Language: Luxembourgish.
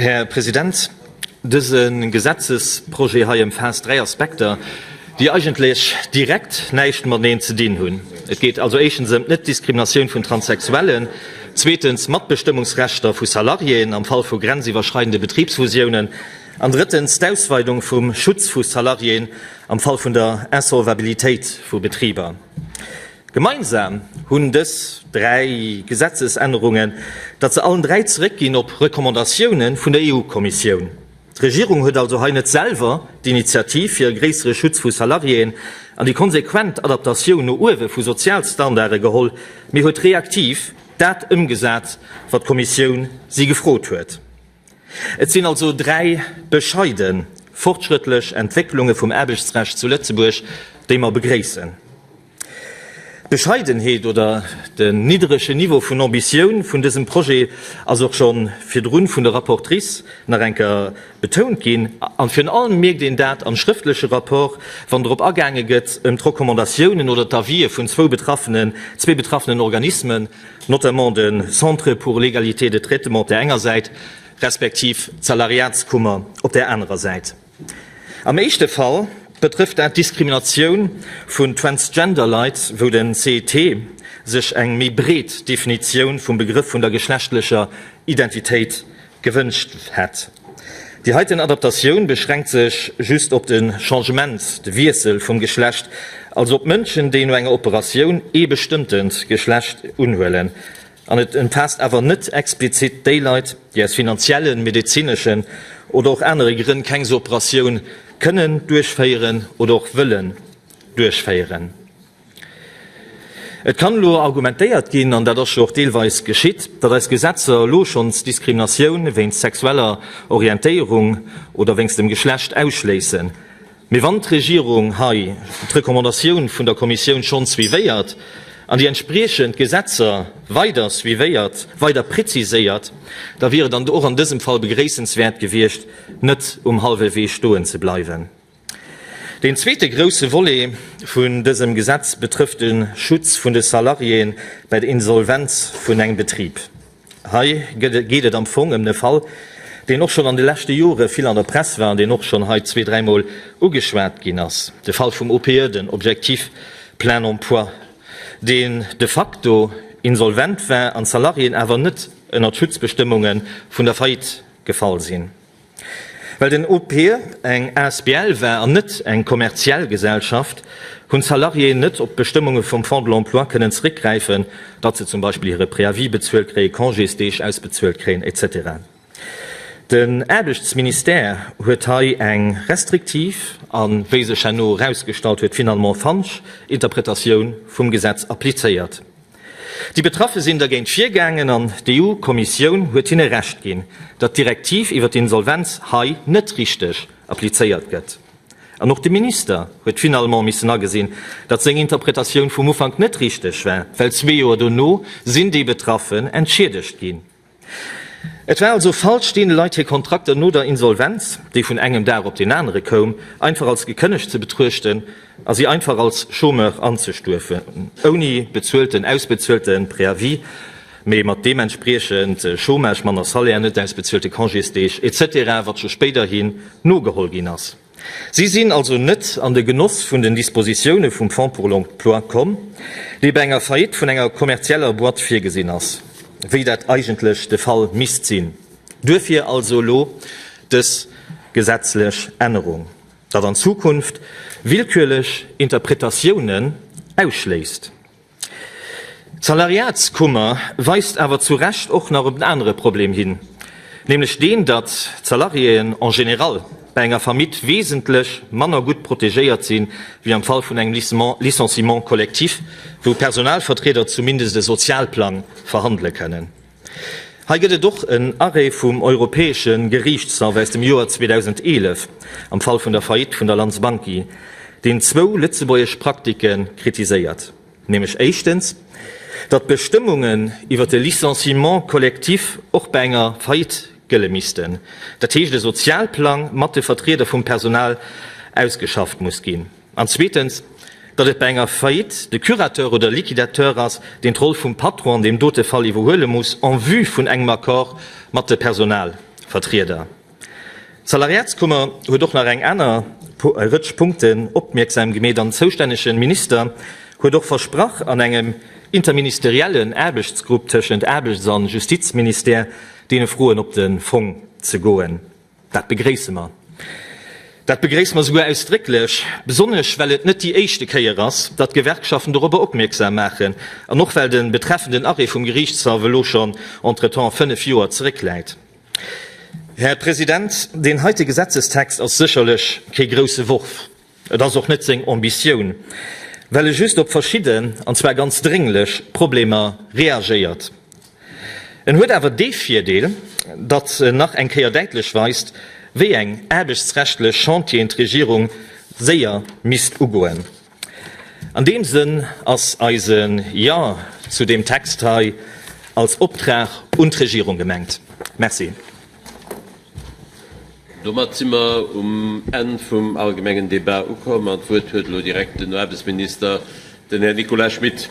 Här President, dëse Gesetzesprojet hei ëmfaasst dräi Aspekter, déi eigentlech direkt näischt mateneen ze dinn hunn. Et geet also éischtens ëm d'Net-Diskriminatioun vun Transsexuellen, zweetens d'Matbestëmmungsrechter vu Salariéen am Fall vu grenziwwerschreidende Betribsfusiounen an drëttens d'Ausweidung vum Schutz vu Salariéen am Fall vun der Insolvabilitéit vu Betriber. Gemeinsam hunn dës dräi Gesetzesännerungen, datt se allen dräi zeréckginn op Recommandatioune vun der EU-Kommissioun. D'Regierung huet also hei net selwer d'Initiativ fir e gréissere Schutz vu Salariéen an déi konsequent Adaptatioun no uewe vu Sozialstandarde geholl, mee huet reaktiv dat ëmgesat, wat d'Kommissioun si gefrot huet. Et sinn also dräi bescheide fortschrëttlech Entwécklunge vum Aarbechtsrecht zu Lëtzebuerg, déi mer begréissen. D'Bescheidenheet oder den nidderege Niveau vun Ambitioun vun dësem Projet ass och scho virdrun vun der Rapportrice nach eng Kéier betount ginn. A virun allem mierkt een dat am schrëftleche Rapport, wann drop agaange gëtt, ëm d'Recommandatiounen oder d'Avisë vun zwou betraffenen, zwee betraffenen Organismen, notamment de Centre pour l'égalité de traitement op där enger Säit, respektiv d'Salariatskummer op där anerer Säit. Am éischte Fall betrëfft dat d'Diskriminatioun vun Transgender-Leit, wou den cet sech eng méi breet Definitioun vum Begrëff vun der geschlechtlecher Identitéit Gewënscht hätt. Déi heiten Adaptatioun beschränkt sech just op de Changement, de Wiessel vum Geschlecht, also op Mënschen, déi no enger Operatioun ee bestëmmtent Geschlecht unhuelen, an et ëmfaasst awer net explizit déi Leit, déi aus finanziellen, medezineschen oder och anere Grënn keng sou Operatioun kënnen duerchféieren oder och wëllen duerchféieren. Et kann elo argumentéiert ginn, an dat ass jo och deelweis geschitt, datt eis Gesetzer elo schonns Diskriminatioun wéinst sexueller Orientéierung oder wéinst dem Geschlecht ausschléissen. Mee wann d'Regierung hei d'Recommandatioun vun der Kommissioun schonns suivéiert an déi entspriechend Gesetzer weider suivéiert, weider preziséiert, da wier et och an dësem Fall begréissenswäert gewiescht, net um hallwe Wee stoen ze bleiwen. Deen zweete grousse Volet vun dësem Gesetz betrëfft de Schutz vun de Salariéeë bei der Insolvenz vun engem Betrib. Hei geet et am Fong ëm e Fall, deen och schonn an de leschte Jore vill an der Press war an deen och schonn hei zwee-, dräimol ugeschwat ginn ass, de Fall vum OPE, den Objectif plein emploi, deen de facto insolvent war an d'Salariéeën awer net ënnert d'Schutzbestëmmunge vun der Faillite gefall sinn. Well den OP eng asbl war an net eng kommerziell Gesellschaft, hunn d'Salariéeën net op d'Bestëmmunge vum Fonds de l'emploi kënnen zréckgräifen, datt se zum Beispill hire Préavis bezuelt kréien, Congésdeeg ausbezuelt kréien, etc. Den Aarbechtsministère huet hei eng restriktiv a wéi sech herno erausgestallt huet, finalement falsch Interpretatioun vum Gesetz applizéiert. Déi Betraffe sinn dergéint virgaangen an d'EU-Kommissioun huet hinne Recht ginn, datt d'Direktiv iwwer d'Insolvenz hei net richteg applizéiert gëtt. An och de Minister huet finalement missen agesinn, datt seng Interpretatioun vum Ufank net richteg war, well zwee Joer dono sinn déi Betraffen entschiedegt ginn. Et war also falsch, deene Leit hir Kontrakter no der Insolvenz, déi vun engem Dag op deen anere koum, einfach als gekënnegt ze betruechten a si einfach als Chômeur anzestuefen, ouni bezuelten, ausbezuelte Préavis, mee mat deementspriechend Chômage, manner Salaire, net ausbezuelte Congésdeeg, etc. Wat scho spéiderhin nogeholl ginn ass. Si sinn also net an de Genoss vun den Dispositioune vum Fonds pour l'emploi komm, dee bei enger Faillite vun enger kommerzieller Boîte virgesinn ass, wéi dat eigentlech de Fall misst sinn. Duerfir also elo dës gesetzlech Ännerung, datt an Zukunft willkürlech Interpretatiounen ausschléisst. D'Salariatskummer weist awer zu Recht och nach op en anere Problem hin, nämlech deen, datt d'Salariéen en général bei enger Faillite wesentlech manner gutt protegéiert si wéi am Fall vun engem Licenciement collectif, wou Personalvertrieder zumindest e Sozialplang verhandele kënnen. Hei gëtt et och en Arrêt vum Europäesche Geriichtshaff aus dem Joer 2011 am Fall vun der Faillite vun der Lanz Banki, deen zwou lëtzebuergesch Praktike kritiséiert, nämlech éischtens, datt d'Bestëmmungen iwwer de Licenciement collectif och bei enger Faillite gëlle missten, dat heescht e Sozialplang mat de Vertrieder vum Personal ausgeschafft muss ginn. An zweetens, datt et bei enger Faillite de Curateur oder Liquidateur ass, deen d'Roll vum Patron an deem dote Fall iwwerhuele muss en vue vun engem Accord mat de Personalvertrieder. D'Salariatskummer huet och nach eng aner Rëtsch Punkten opmierksam gemeet an den zoustännegen Minister huet och versprach an engem interministeriellen Aarbechtsgrupp tëschent Aarbechts an Justizministère deene Froen op den Fong ze goen. Dat begréisse mer. Dat begréisse mer souguer ausdrécklech, besonnesch well et net déi éischte Kéier ass, datt d'Gewerkschaften dorobber opmierksam maachen an och well de betreffenden Arrêt vum Geriichtshaff elo schonn entretemps fënnef Joer zeréckläit. Här President, deen heite Gesetzestext ass sécherlech kee grouse Wurf. Et ass och net seng Ambitioun, well e just op verschidden, an zwar ganz drénglech Problemer reagéiert. En huet awer dee Virdeel, datt en nach eng Kéier däitlech weist, wéi eng aarbechtsrechtlech Chantieren d'Regierung séier misst ugoen. An deem Sënn ass eise Jo zu deem Text hei als Optrag un d'Regierung gemengt. Merci. Domat si mer um Enn vum allgemengen Débat ukomm an d'Wuert huet elo direkt den Aarbechtsminister, den Här Nicolas Schmit.